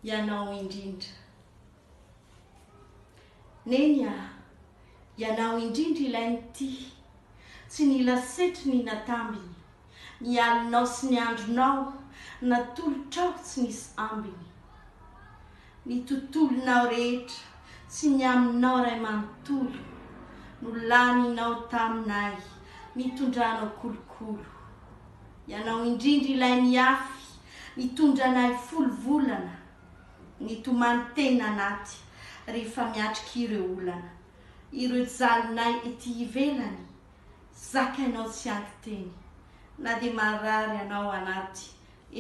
Ianao indrindra. Neny ah, ianao indrindra ilay nitia, tsy nila setry ny natambiny, ny alinao sy ny andronao natolotrao tsy nisy ambiny. Ny tontolonao rehetra tsy ny aminao ray manontolo no laninao taminay nitondranao kolokolo. Ianao indrindra ilay niafy nitondra anay folo volana nitomany teny anaty rehefa miatrika ireo olana ireo jalinay ety ivelany zakainao tsy anky teny na dia marary ianao anaty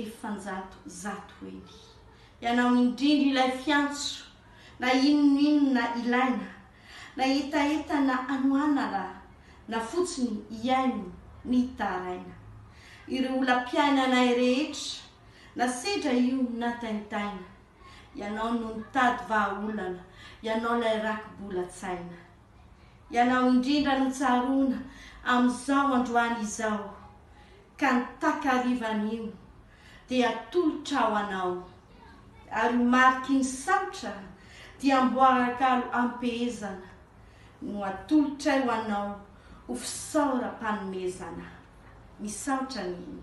efanjato zato eny Ianao indrindra ilay fiantso na inon'inona ilaina Na hetaheta na anoana ra na fotsiny hihaino ny taraina Ireo olam-piainanay rehetra na sedra io na taintaina Ianao no nitady vahaolana Ianao lay rakibolan-tsaina Ianao indrindra no tsaroana amin'izao androany izao Ka ny takarivan'io dia atolotra ho anao, ary ho mariky ny saotra dia amboarakalo ampehezana no atolotray ho anao ho fisaoram-panomezana. Misaotra an'iny.